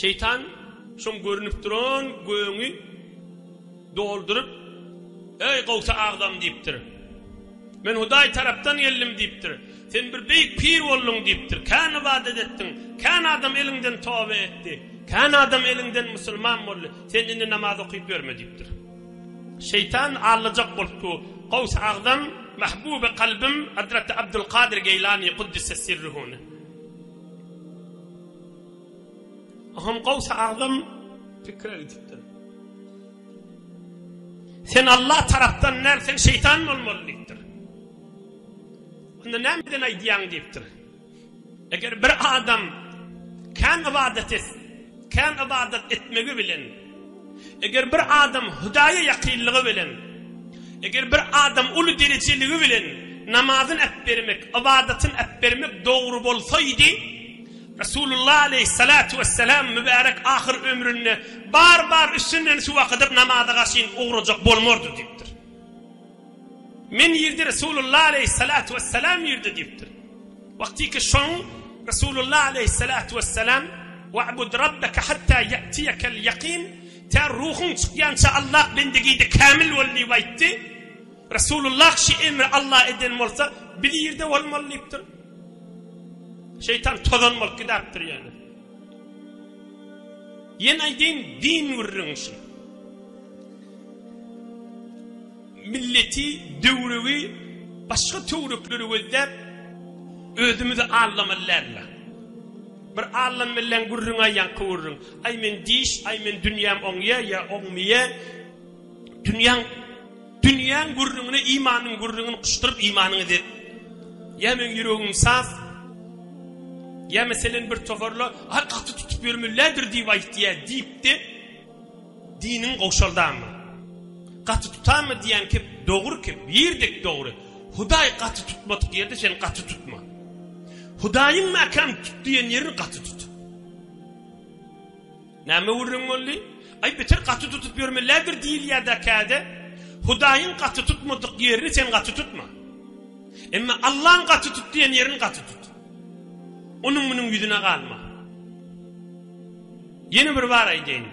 Şeýtan şoň görnüp duran gögüňi dolduryp, Eý, Gawsy agzam diýipdir. Men Hudaý tarapdan geldim diýipdir. Sen bir beýik pir bolduň diýipdir. Kän ybadat etdiň. Kän adam eliňden toba etdi. Kän adam eliňden musulman boldy. Sen indi namaz okyp ýörme diýipdir. Şeýtan allajak bolupdy. Gawsy agzam, Mahbuby kalbym Hazreti Abdulkadir Geýlany Kuddise sirruhuny. Ahun Gawsy Agzam pikire gidipdir. Sen Allah tarapdan däl, sen şeýtan bolmaly diýipdir. Onda nämeden aýdýaň diýipdir. Eger bir adam kän ybadat et, kän ybadat etmegi bilen Eger bir adam Hudaýa ýakynlygy bilen, eger bir adam uly derejeligi bilen namazyn äpbermek, ybadatyn äpbermek dogry bolsaýdy, Resulullah aleýhissalatu wessalam mübärek ahyr ömründe bar-bar üstünden suw akydyp namaza garşyn ugrajak bolmardy diýipdir. Men ýerde Resulullah aleýhissalatu wessalam ýerde diýipdir. Wagtyky şoň Resulullah aleýhissalatu wessalam Wa'bud Rabbeke hatta ýa'tiýekel ýakin Tä ruhuň çykýança Allah bendegide kämil bol diýip aýtdy. Resulullah şi emri Allah eden bolsa biz ýerde bolmaly diýipdir. Şeýtan tozan bolup gidapdir ýöne. Ýene aýdýyn din gürrüň şi. Milleti, döwrügi, başga töwrekleri gözläp, özümizi aldamaly dälmi? Bir allan bilen gürrüňä ýaňky gürrüň. Aý men diş, aý men dünýäm oňýa ýa oňmýa. Dünýäň dünýäň gürrüňine imanyň gürrüňini guşduryp imanyňy edip. Ýa meň ýüregim saz. Ýa meselen bir toparla, Aý gaty tutup ýörmelidir diýip aýt ýa diýipdi. Diniň gowşaldamy? Gaty tutamy diýýän kep dogry kep, ýer dek dogry. Hudaý gaty tutmadyk ýerde sen gaty tutma. Hudaýyň mäkäm tut diýen ýerini gaty tut. Näme gürrüň boldy? Aý beter gaty tutup ýörmelidir diýilýär-de käde. Hudaýyň gaty tutmadyk ýerini sen gaty tutma. Emma Allaň gaty tut diýen ýerini gaty tut. Onuň munuň ýüzüne galma. Ýene bir bar aýdaýyn.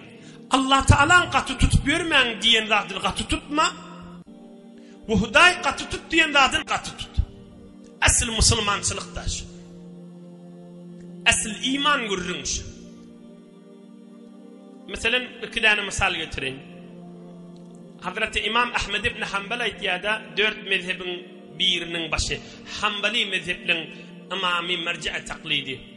Allah Tagalaň gaty tutup ýörmäň diýen zadyny gaty tutma we Hudaý gaty tut diýen zadyny gaty tut. Asl musulmançylykda şu. Asl iman gürrüň şu. Meselen, iki däne mysal getireýin. Hazreti İmam Ahmed ibn Hanbal aýtýarda, dört mezhebiň biriniň başy, Hanbali mezhebiň imamy merji'e taklidi.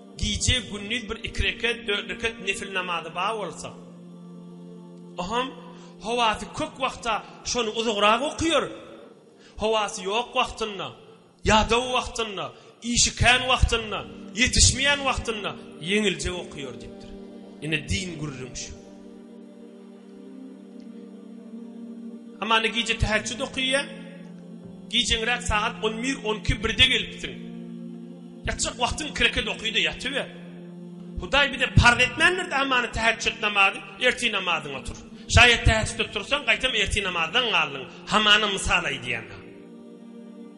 Gije gündiz bir iki reket, dört reket nefil namazy bar bolsa, o hem howasy kök wagtda şony uzagrak okaýar. Howasy ýok wagtynda, ýadaw wagtynda, işi kän wagtynda, ýetişmeýän wagtynda ýeňiljek okaýar diýipdir. Ine din gürrüňi şu. Hamana gije täheçjüt okyýa. Gijeňräk sagat on bir, on iki, birde gelipsiň. Ýatjak wagtyň iki rekat oky-da ýatyber. Hudaý bize parz etmändir-de hamana täheçjüt namazy, ertir namazyňa tur. Şaýat täheçjüde tursaň, gaýtam ertir namazdan galdyň. Hamana mysal aýdýan-a.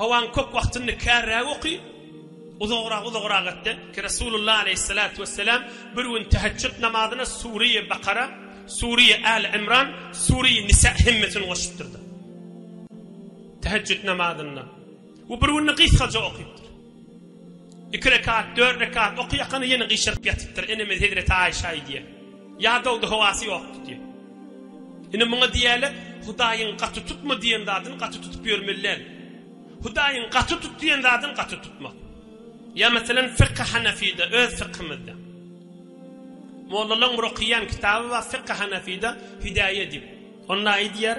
Howaň kök wagtyny kärräk oky, uzagrak uzagrak gitde ki Resulullah aleýhissalatu wesselam bir gün täheçjut namazyna Sureýe Bakara, Sureýe Äli Imran, Sureýe Nisa hemmesini goşupdyrda. Täheçjut namazynda. We bir günde gysgaja okypdyr. Iki rekat, dört rekat okaýakany ýene gyşaryp ýatypdyr. Enemiz hezreti Aýşa aýdýar. Ýadawdy, howasy ýokdy diýip. Ine muňa diýýärler, Hudaýyň gaty tutma diýen zadyny gaty tutup ýörmeli däl. Hudaýyň gaty tut diýen zadyny gaty tutmak. Ýa meselem Fykhy Hanafide, öz Fykhymyzda. Mollalaryň bir okaýan kitaby bar Fykhy Hanafide, Hidäýe diýip. Onda aýdýar,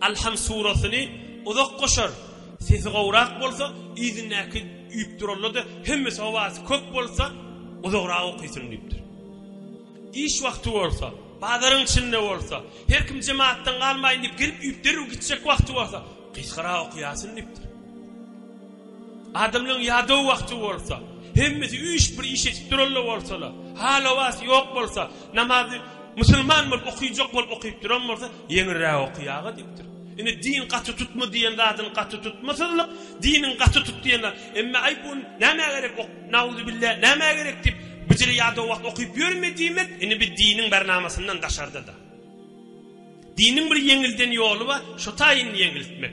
Alham surasyny uzak goşar, sesi gowrak bolsa, yzyndaky üýüp duranlar-da hemmesi howasy kök bolsa, uzagrak okysyn diýipdir. Iş wagty bolsa, bazaryň içinde bolsa, her kim jemagatdan galmaýyn diýip girip üýüp derrew gitjek wagty bolsa, gysgarak okaýasyn diýipdir. Adamlaryň ýadaw wagty bolsa, hemmesi üýşüp bir iş edip duranlar bolsalar, hal-howasy ýok bolsa, Namazy musulman bolup okyjak bolup okyp duran bolsa ýeňilräk oky aga diýipdir. Indi din gaty tutma diýen zadyny gaty tutmasyzlyk, diniň gaty tut diýen zat. Emma aý bu nämä gerek ok, nauzubilla nämä gerek diýip bijili ýada wagt okyp ýörme diýmek, indi bir diniň bernamasyndan daşarda-da. Diniň bir ýeňilden ýoly bar, şo taýyn ýeňiltmek.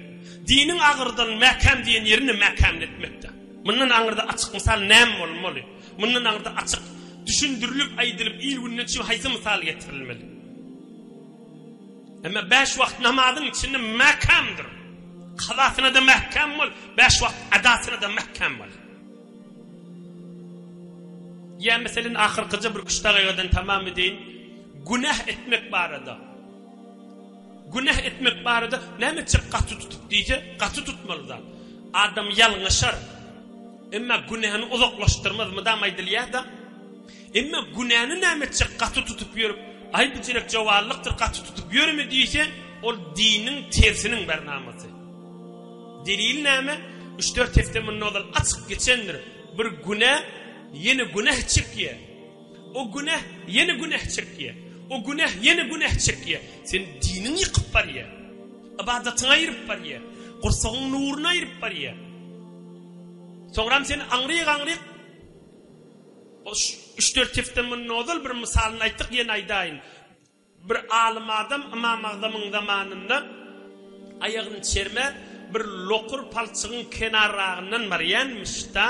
Diniň agyrdan mäkäm diýen ýerini mäkämletmekde. Mundan aňyrda açyk mysal näme bolmaly? Mundan aňyrda açyk düşündirilip, aýdylyp, il-günden çyp haýsy mysal getirilmeli? Emma bäş wagt namazyň içinde mäkämdir. Kazasyna-da mäkäm bol, bäş wagt adasyna-da mäkäm bol. Ýa meselin ahyrkyja bir küştagaýgadan tamam edeýin. Günäh etmek barada. Günäh etmek barada näme etjek gaty tutup diýse, gaty tutmaly zat. Adam ýalňyşar. Emma günäni uzaklaşdyrmaz mydam aýdylýar-da. Emma günäni näme etjek gaty tutup ýörüp, aý bu jelek jowallykdyr gaty tutup ýörme diýse, ol diniň tersiniň bir namasy. Delili näme? Üç dört hepde mundan ozal açyk geçendir. Bir günä ýene günäh çekýär. O günäh ýene günäh çekýär. O günäh ýene günäh çekýär. Sen diniňi ýykyp barýar. Ybadatyňy aýryp barýar. Gursagyň nuruny aýryp barýar. Soňram sen aňryk-aňryk üç-dört hepde mundan ozal bir mysalyny aýtdyk, ýene aýdaýyn. Bir alym adam Ymam Agzamyň zamanynda aýagyny çerme bir lokur palçygyň kenarragyndan barýanmyş-da,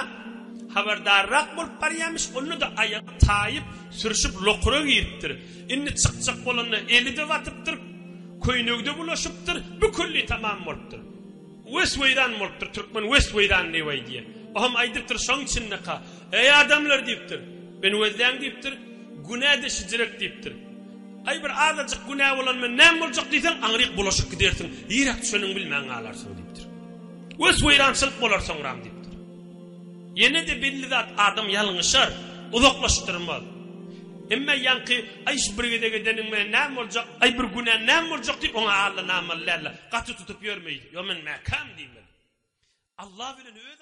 habardarrak bolup barýanmyş, onda-da aýagy taýyp, sürşüp lokura giripdir. Indi çykjak bolanda eli-de batypdyr, köýnegi-de bulaşypdyr, bükulli tamam bolupdyr. Wes weýran bolupdyr, türkmen wes weýran newaý diýýär. O hem aýdypdyr şoň içindeka, Eý adamlar diýipdir, meni wezläň diýipdir, günä de şijirek diýipdir. Aý bir azajyk günä bolan men näme boljak diýseň aňryk bulaşyp gidersiň, ýiräk düşeniňi bilmän galarsyň diýipdir. Wes weýrançylyk bolar soňram diýipdir. Ýene de belli zat adam ýalňyşar, uzaklaşdyrmaz. Emma ýaňky aý şu bir gezek edeniň menen näme boljak, aý bir günän näme boljak diýip oňa allanamaly däldir. gaty tutup ýörmeýin. Ýo men mäkäm diýmeli. Allah bilen öz